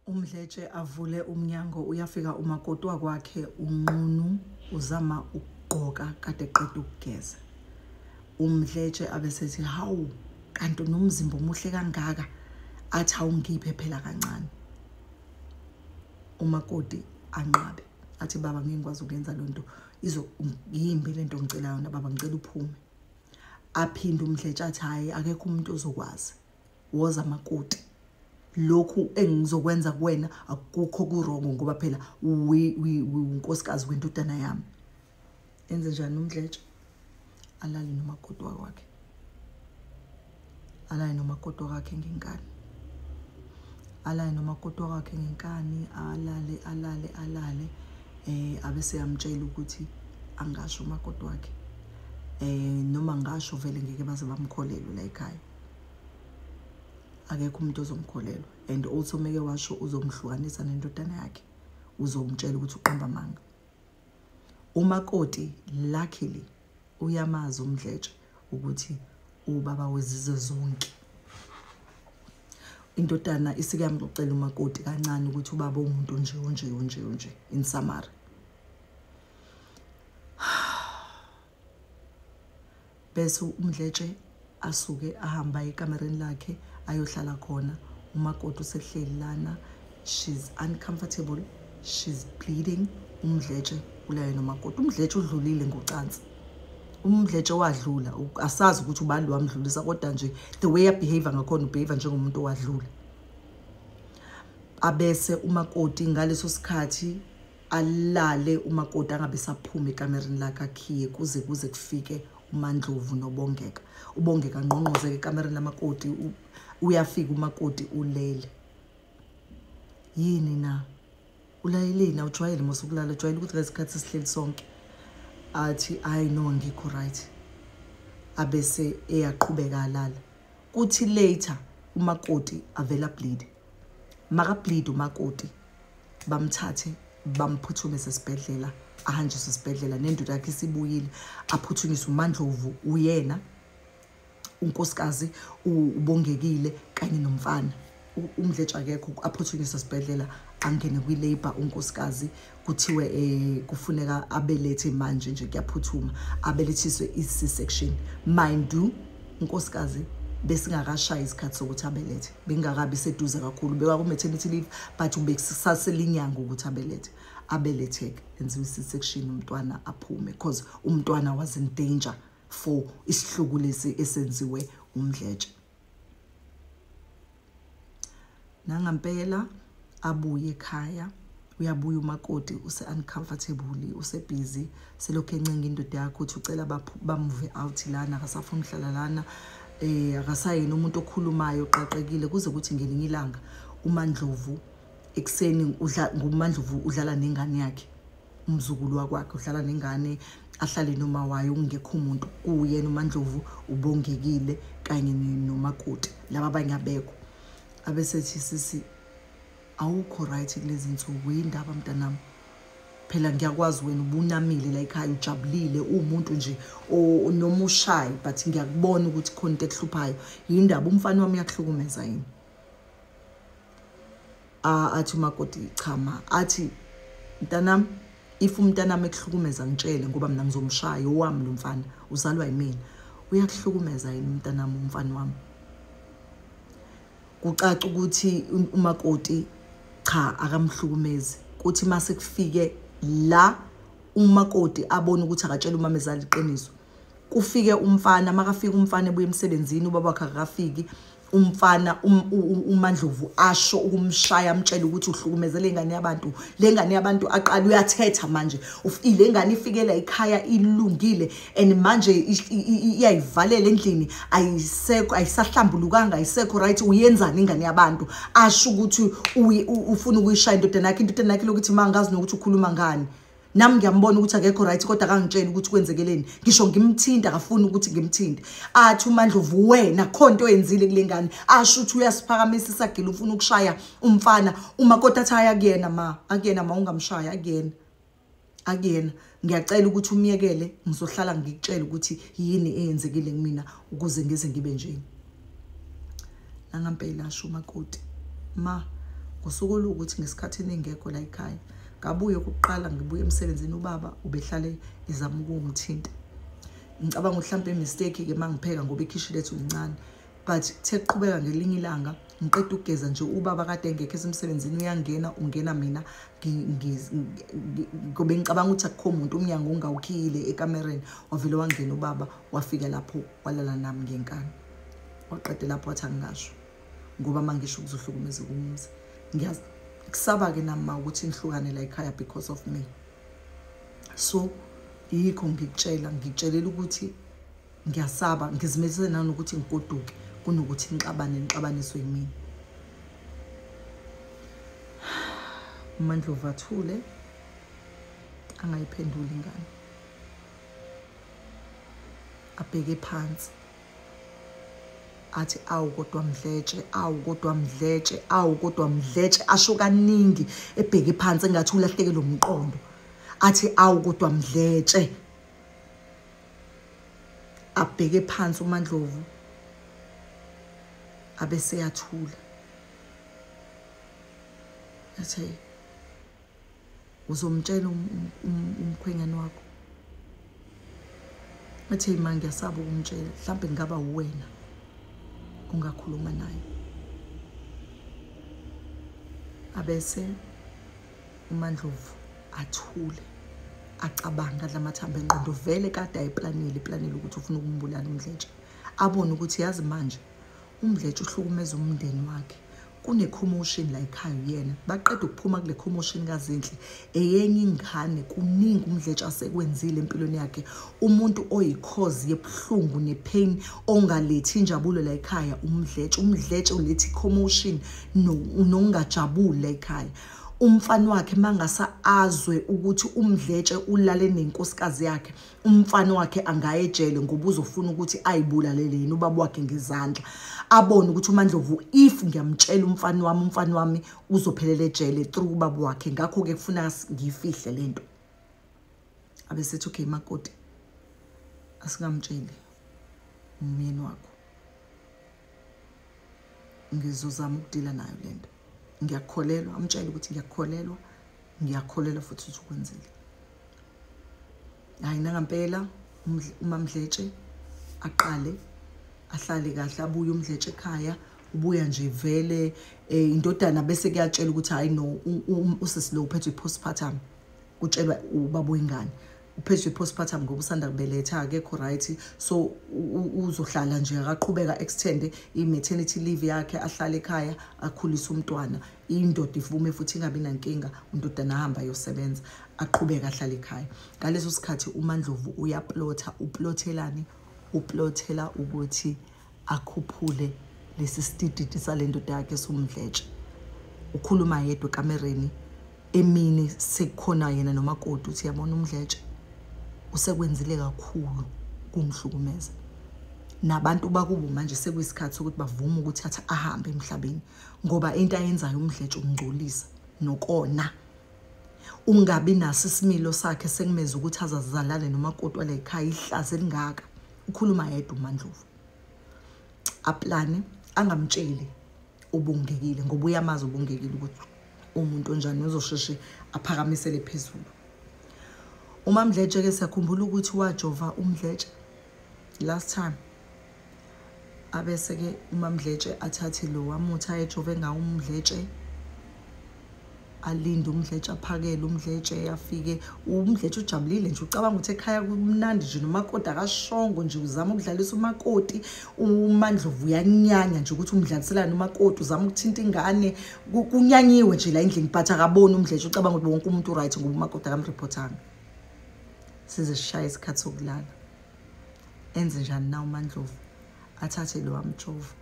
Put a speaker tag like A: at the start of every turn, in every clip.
A: umdletshe avule umnyango uyafika umakoti wakwakhe unqunu uzama ukugqoka kade qeda ukugeza umdletshe abesethi hawu kanti unomzimba omuhle kangaka athi awungiphe phela kancane umakoti anqabe athi baba ngeke ngikwazi ukuyenza le nto yimbi le nto ngicela yona baba ngicela uphume aphinde umdletshe athi hhayi akekho umuntu ozokwazi woza makoti lokhu engizokwenza kuwena akukho kurongo ngoba phela unkosikazi wendodana yami enze njani umdletshe alale nomakoti wakwakhe alale nomakoti wakhe ngenkani alale nomakoti wakhe ngenkani alale alale alale eh abe seyamtshela ukuthi angasho umakoti wakhe eh noma ngasho vele ngeke baze bamkholelwe la ekhaya akekho umuntu ozomkholelwa and also meke washo uzomhlukanisa nendodana yakhe uzomtshela ukuthi uqamba amanga umakoti luckily uyamazi umdletshe ukuthi ubaba wezizwe zonke indodana isike yamxoxela umakoti kancane ukuthi ubaba umuntu nje unje unje unje in summary bese umdletshe asuke ahamba ekamereni lakhe ayohlala khona umakoti usehleli lana she's uncomfortable she's bleeding umdletshe ulayo nomakoti umdletshe udlulile ngocansi umdletshe wadlula asazi ukuthi ubani wamdlulisa kodwa nje the way abehavior ngakhona ubehavior njengomuntu owadlula abese umakoti ngaleso sikhathi alale umakoti angabe saphuma ekamereni lakhe akhiye kuze kuze kufike umandlovu nobongeka ubongeka ngqongqozeke ekamereni lamakoti uyafika umakoti ulele yini na ulayeleni awujwayele mose ukulala ujwayele ukuthi ngesikhathi esihleli sonke athi hayi no ngikho right abese eyaqhubeka alala kuthi later umakoti avela bleed maka bleed umakoti bamthathe bamphuthumise esibhedlela ahanjiswe esibhedlela nendoda yakhe isibuyile aphuthunyiswe umandlovu uyena unkosikazi ubongekile kanye nomfana umdletsha akekho aphuthunyiswe esibhedlela angene kwi-labour unkosikazi kuthiwe um kufuneka abelethe manje nje kuyaphuthuma abelethiswe i-c section mind you unkosikazi besingakashayi isikhathi sokuthi abelethe bengakabi seduze kakhulu bekwaku-maternity leave but ubekusaselinyango ukuthi abelethe abeletheke enziwe isisection umntwana aphume because umntwana was in danger for isihluku lesi esenziwe umdletshe nangampela abuye ekhaya uyabuya umakoti use-uncomfortable usebhizi selokhu encenga indoda yakho ukuthi ucela bamuve out lana akasafuni uhlala lana um akasayena umuntu okhulumayo oqaqekile kuze kuthi ngelinye ilanga umandlovu ekuseni ngumandlovu udlala nengane yakhe umzukulu wakwakhe udlala nengane ahlale noma wayo kungekho umuntu kuwuyena umandlovu ubongekile kanye nomakoti laba abanye abekho abesethi sisi awukho right kulezi nsuku yindaba mntanami phela ngiyakwazi wena ubunamile la ekhaya ujabulile uwumuntu nje noma ushayi but ngiyakubona ukuthi khona into ekuhluphayo yindaba umfana wami uyakuhlukumeza yini athi umakoti chama athi mntanami if umntanami ekuhlukumeza ngitshele ngoba mina ngizomshaya owami lo mfana uzalwa yimina uyakuhlukumeza yini umntanami umfana wami kucaca ukuthi umakoti cha akamhlukumezi kuthi uma sekufike la umakoti abone ukuthi akatshela umamezala iqiniso kufike umfana makafika umfana ebuye emsebenzini ubaba wakhe akafiki umfana um, uMandlovu asho ukumshaya amtshela ukuthi uhlukumeze lengane yabantu lengane yabantu aqala uyathetha manje ufile ngane ifikela ikhaya ilungile and manje iyayivalela endlini ayisekho ayisahlambulukanga ayisekho right uyenzani ingane yabantu asho ukuthi ufuna ukuyishaya indodana yakhe indodana yakhe lokuthi mangazi nokuthi ukhuluma ngani nami ngiyambona ukuthi akekho right kodwa akangitsheli ukuthi kwenzekeleni ngisho ngimthinta akafuni ukuthi ngimthinte athi umandlovu wena kho nto oyenzile kule ngane asho ukuthi uyasiphakamisa isagila ufuna ukushaya umfana uma kodwa athi hhayi akuyena ma akuyena ma ungamshayi akuyena akuyena ngiyacela ukuthi umyekele ngizohlala ngikutshele ukuthi yini eyenzekile kumina ukuze ngize ngibe njeni nangampela asho umakoti ma ngosuku oluwukuthi ngesikhathi eningekho la ekhaya ngabuye kuqala ngibuye emsebenzini ubaba ubehlale ezama ukungithinta ngicabanga mhlawumbe imistake ke mangipheka ngoba ikhishi lethu lincane but kuthe kuqhubeka ngelinye ilanga ngiqeda ukugeza nje ubaba kade engekho esemsebenzini uyangena ungena mina ngobe ngicabanga ukuthi akukho muntu umnyango ungawukhiyile ekamereni wavele wangena ubaba wafika lapho walala nami ngenkani waqede lapho wathi angingasho ngoba uma ngisho kuzohlukumeza kumuzi ngiyakusaba-ke nami ma ukuthi ngihlukane la ekhaya because of me so yikho ngikutshela ngikutshelela ukuthi ngiyasaba ngizimelise nanokuthi ngigoduke kunokuthi ngixabane ngixabaniswe yimina umandlovu athule angayiphenduli ingane abheke phansi athi awu kodwa mdletshe awu kodwa mdletshe awu kodwa mdletshe asho kaningi ebheke phansi engathi ulahleke lo mqondo athi awu kodwa mdletshe abheke phansi uMandlovu abeseyathula athe uzomtshela um, um, um, umkhwenyane wakho athi hey ma ngiyasaba ukumtshela mhlawumbe ngingaba uwena ungakhuluma naye abese umandlovu athule acabanga adla amathambo engqondo vele kade ayiplanile iplanile ukuthi ufuna ukumbulala umdletshe abone ukuthi yazi manje umdletshe uhlukumeza umndeni wakhe kune-commotion la ekhaya uyena baqeda ukuphuma kule commotion kazinhle eyenye ingane kuningi umdletshe asekwenzile empilweni yakhe umuntu oyikhozi yebuhlungu nepain ongalethi injabulo la ekhaya umdletshe umdletshe ulethi commotion nokungajabuli la ekhaya umfana wakhe mangasa azwe ukuthi umdletshe ulale nenkosikazi yakhe umfana wakhe angaye ejele ngoba uzofuna ukuthi ayibulalele yena ubaba wakhe ngezandla abone ukuthi umandlovu if ngiyamtshela umfana wami umfana wami uzophelela ejele through ubaba wakhe ngakho-ke kufuna ngiyifihle le nto abesethi okay makoti asingamtsheli umyeni wakho ngizozama ukudila nayo le nto ngiyakholelwa amtshele ukuthi ngiyakholelwa ngiyakholelwa futhi ukuthi ukwenzile hayi nangampela umamdletshe aqale ahlale kahle abuye umdletshe ekhaya ubuya nje vele eh, indodana bese kuyatshela ukuthi hayi no usisi lo uphethwe i-postpartum kutshelwa ubaba oyingane uphethwe i-postpartum ngoba usanda kubeletha akekho right so uzohlala nje akaqhubeka extende i-maternity leave yakhe ahlale ekhaya akhulise umntwana indoda ivume futhi ingabi nankinga undodana ahamba ayosebenza aqhubeke ahlale ekhaya ngaleso sikhathi umandlovu uyaplotha uplothelani uplothela ukuthi akhuphule lesi sitididi sale ndoda yakhe somdletshe ukhuluma yedwa ekamereni emini sekukhona yena nomakoti uthi yabona umdletshe usekwenzile kakhulu kungihlukumeza nabantu bakubo manje sekuyisikhathi sokuthi bavume ukuthi athi ahambe emhlabeni ngoba into ayenzayo umdletshe ukungcolisa nokona ungabi naso isimilo sakhe sekumeza ukuthi azazizalale nomakoti wala ekhaya ihlazi elingaka ukhuluma yedwa umandlovu aplane angamtsheli ubungekile ngoba uyamazi ubungekile ukuthi umuntu onjani uzosheshe aphakamisele phezulu umamdletshe ke siyakhumbula ukuthi wajova umdletshe last time abese-ke umamdletshe athathe lo wamuthi ayejove ngawo umdletshe alinde umdletshe aphakele umdletshe afike umdletshe ujabulile nje ucabanga ukuthi ekhaya kumnandi nje nomakoti akashongo nje uzama ukudlalisa umakoti umandlovu uyanyanya nje ukuthi umdlaliselani umakoti uzama ukuthinta ingane kunyanyiwe nje la endlini but akaboni umdletshe ucabanga ukuthi wonke umuntu uright ngoba umakoti akamreportanga size sishaye isikhathi sokulala enze njani na umandlovu athathe lo amjovo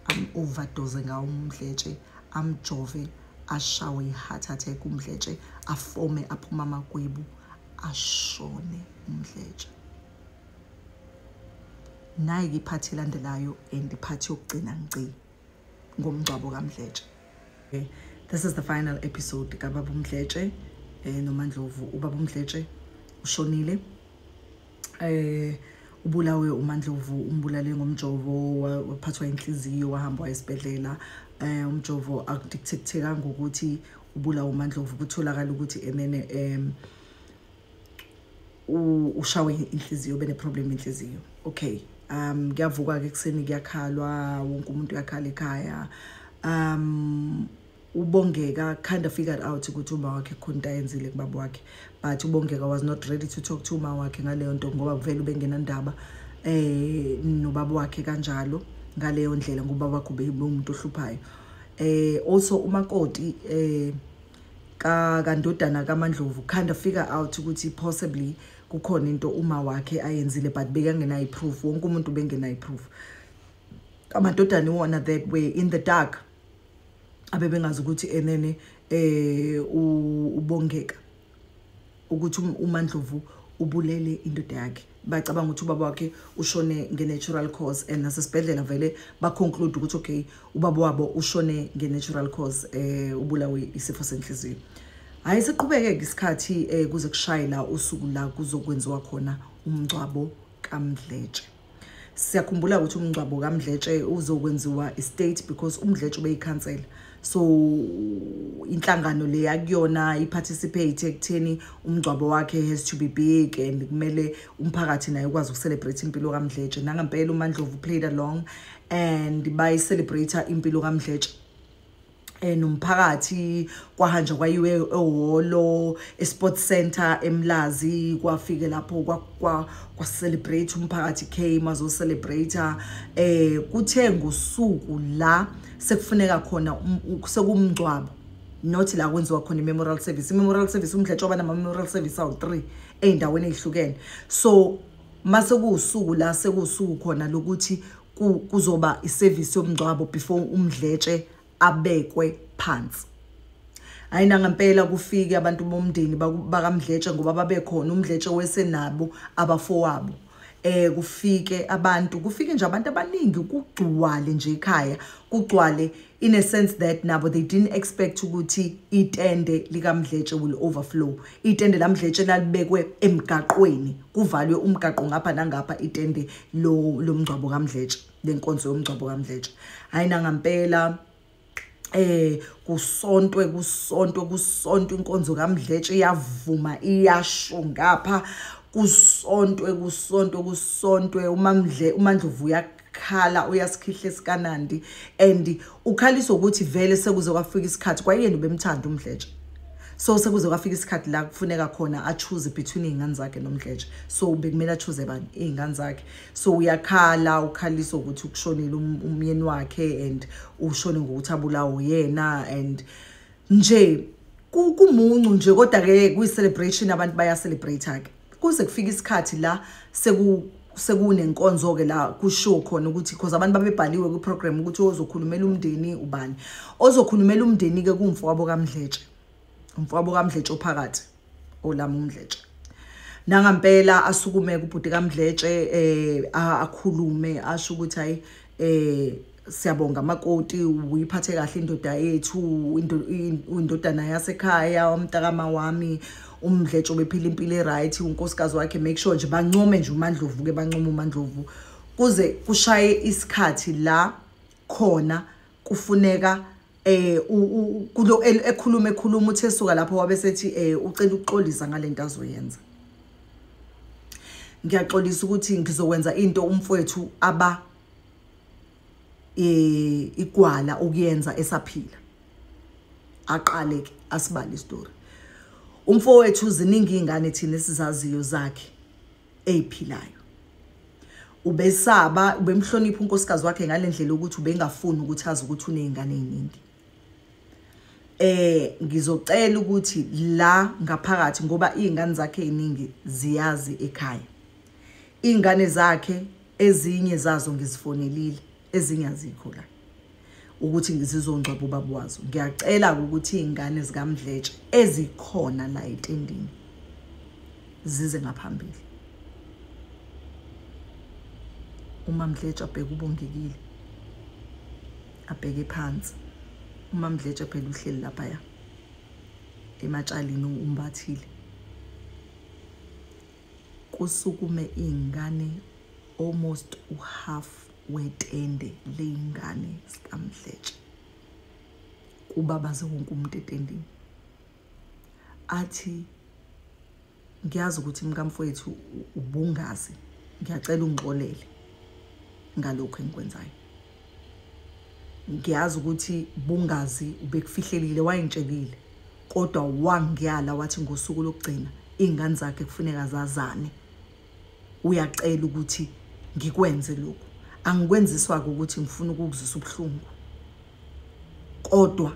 A: am-overdose ngawo umdletshe amjove ashawe i-heart attack umdletshe afome aphuma amagwebu ashone umdletshe nayi-ke iphathi elandelayo and iphathi yokugcina ngci ngomngcwabo kamdletshe okay. this is the final episode kababa umdletshe um eh, nomandlovu ubaba umdletshe ushonile eh ubulawe uMandlovu umbulale ngomjovo waphathwa inhliziyo wahamba esibhedlela eh umjovo akudictatekanga ukuthi ubulawa uMandlovu kutholakala ukuthi enene em ushawe inhliziyo bene problem inhliziyo okay um kuyavuka ke kuseni kuyakhalwa wonke umuntu uyakhala ekhaya um ubongeka kind of figured out ukuthi uma wakhe khona into ayenzile kubaba wakhe but ubongeka was not ready to talk to uma wakhe ngaleyo nto ngoba kuvele ubengenandaba eh nobaba wakhe kanjalo ngaleyo ndlela ngoba wakho beyimuntu ohluphayo eh also umakoti eh ka kandodana kaMandlovu kind of figure out ukuthi possibly kukhona into uma wakhe ayenzile but bekangena iproof wonke umuntu bengena iproof amadodana iwona that way in the dark abebengazi ukuthi enene eh ubongeka ukuthi um, uMandlovu ubulele indoda yakhe bacabanga ukuthi ubaba wakhe ushone nge-natural cause and nasesibhedlela vele baconclude ukuthi okay ubaba wabo ushone nge-natural cause eh ubulawe isifo senhliziyo hhayi siqhubeke-ke isikhathi um kuze kushaye la usuku la kuzokwenziwa khona umngcwabo kamdletshe siyakhumbula ukuthi umngcwabo kamdletshe uzokwenziwa istate because umdletshe ubeyikhansela so inhlangano le yakuyona iparticipate ekutheni umngcwabo wakhe has to be big and kumele umphakathi naye ukwazi ukucelebrate impilo kamdletshe nangempela umandlovu played along and bayicelebrate impilo kamdletshe eh nomphakathi kwahanja kwayiwe ehholo esport center emlazi kwafike lapho kwa kwa celebrate umphakathi came azo celebrate eh kuthe ngosuku la sekufuneka khona um, sekumngcwabo not la kwenziwa khona i-memorial service i-memorial service umdletsha oba nama-memorial service awu-three ey'ndaweni ey'hlukene so mase kuwusuku la sekuwusuku khona lokuthi kuzoba iservice yomngcwabo before umdletshe abekwe phansi hayi nangampela kufike abantu bomndeni bakamdletshe ngoba babekhona umdletshe wesenabo abafowabo eh kufike abantu kufike nje abantu abaningi kugcwale nje ekhaya kugcwale in a sense that nabo they didn't expect ukuthi itende likamdletshe will overflow itende lamdletshe lalibekwe emgaqweni kuvalwe umgaqo ngapha nangapha itende lomngcwabo kamdletshe lenkonzo yomngcwabo kamdletshe hayi nangampela eh kusontwe kusontwe kusontwe inkonzo kamdletshe iyavuma iyasho ngapha kusontwe kusontwe kusontwe umamdle umandlovu uyaqa khala uyasikhihle sikanandi and ukhalisa ukuthi vele sekuze kwafika isikhathi kwayena ubemthanda umdletshe so sekuze kwafika isikhathi la kufuneka khona achoose between iy'ngane zakhe nomdletshe so bekumele achoose bani iy'ngane zakhe so uyakhala ukhalisa ukuthi ukushonile um-, umyeni wakhe and ushone ngokuthi abulawo yena and nje kumuncu nje kodwa-ke kuyi-celebration abantu bayacelebrate-ke kuze kufike isikhathi la seku sekunenkonzo-ke la kushiwo khona ukuthi because abantu babebhaliwe kwiprogram ukuthi ozokhulumela umndeni ubani ozokhulumela umndeni-ke kuwumfowabo kamdletshe umfowabo kamdletshe ophakathi olami umdletshe nangampela asukume kubhuti kamdletshe eh akhulume asho ukuthi hayi eh siyabonga makoti uyiphathe kahle indoda yethu indodana yasekhaya umntakama wami umdletsho bephila impilo eright unkosikazi wakhe make sure nje bancome nje umandlovu ke bancome umandlovu kuze kushaye isikhathi la khona kufuneka eh kulo ekhuluma ekhuluma uthe suka lapho wabe sethi eh ucela ukuxolisa ngalento azoyenza ngiyaxolisa ukuthi ngizokwenza into umfowethu aba eh igwala ukuyenza esaphila aqale ke asibale istory umfowethu ziningi ingane thina esizaziyo zakhe eyiphilayo ubesaba ubemhlonipha unkosikazi wakhe ngalendlela ukuthi ubengafuni ukuthi azi ukuthi unezingane eziningi eh ngizocela ukuthi la ngaphakathi ngoba izingane zakhe eziningi ziyazi ekhaya izingane zakhe ezinye zazo ngizifonelile ezinye azikho la ukuthi ngizizongcwaba ubaba wazo ngiyacela ukuthi iy'ngane zikamdletshe ezikhona la etendini zize ngaphambili uma mdletshe abheke ubongekile abheke phansi uma mdletshe phela uhleli lapha ya ematshalini umbathile Kusukume iy'ngane almost uhalf wetende ley'ngane zikaMdletshe. Kubabaze wonke umuntu etendini. Athi ngiyazi ukuthi mkamfowethu ubungazi ngiyacela ungixolele ngalokho engikwenzayo ngiyazi ukuthi bungazi ubekufihlelile wayengitshelile kodwa wangyala wathi ngosuku lokugcina iy'ngane zakhe kufuneka zazane uyacela ukuthi ngikwenze lokhu angikwenziswa-ke ukuthi ngifuna ukukuzisa ubuhlungu kodwa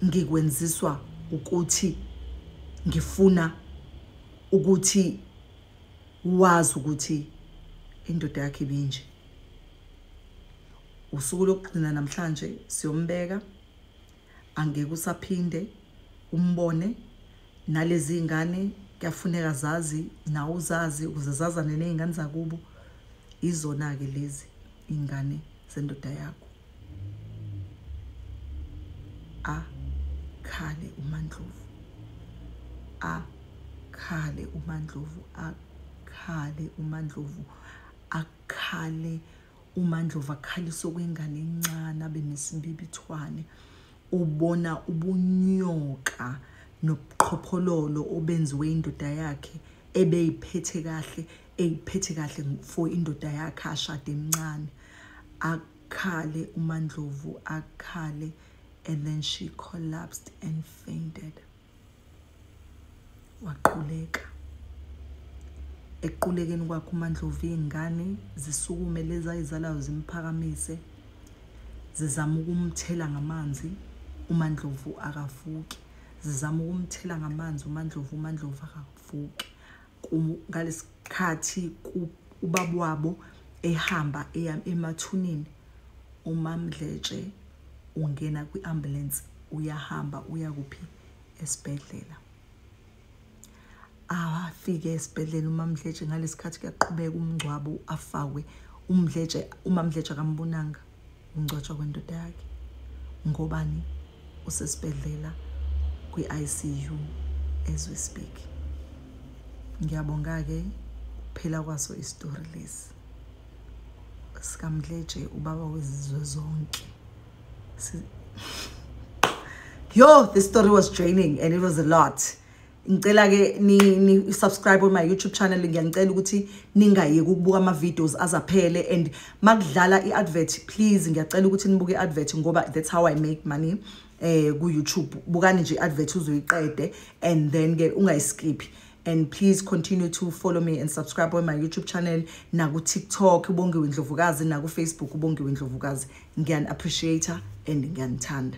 A: ngikwenziswa ukuthi ngifuna ukuthi wazi ukuthi indoda yakhe ibinje usuku lokugcina namhlanje siyombeka angeke usaphinde umbone nalezi ingane kuyafuneka zazi nawe uzazi ukuze zazane nezingane zakubo izona ke lezi ingane zendoda yakho a khale umandlovu a khale umandlovu a khale umandlovu akhale umandlova akhalisa okwengane encane abe nesimbibithwane ubona ubunyoka nobuqhophololo obenziwe indoda yakhe ebeyiphethe kahle eyiphethe kahle for indoda yakhe ashade emncane akhale umandlovu akhale and then she collapsed and fainted waquleka ekuqulekeni kwakhe umandlovu iy'ngane zisukume lezi ayizalayo zimphakamise zizama ukumthela ngamanzi umandlovu akavuki zizama ukumthela ngamanzi umandlovu umandlovu akavuki ngalesikhathi ubaba wabo ehamba eya emathuneni umamdletshe ungena kwi-ambulance uyahamba uya kuphi esibhedlela afike esibhedlela umamdletshe ngalesikhathi kuyaqhubeka umngcwabo afakwe umdletshe umamdletshe akambonanga ungcwatshwa kwendoda yakhe ngobani usesibhedlela kwi-ICU as we speak ngiyabonga-ke phela kwaso isitori lesi sikamdleje ubaba wezizwe zonke yo this story was draining and it was a lot ngicela ke ni, ni subscribe on my youtube channel ngiyanicela ukuthi ningayeki ukubuka ama videos azaphele and makudlala i advert please ngiyacela ukuthi nibuke i advert ngoba that's how i make money eh ku youtube bukani nje advert uzoyiqede and then ke ungayiskiphi and please continue to follow me and subscribe on my youtube channel naku tiktok ubongiwe ndlovukazi naku facebook ubongiwe ndlovukazi ngiyani appreciate and ngiyanithanda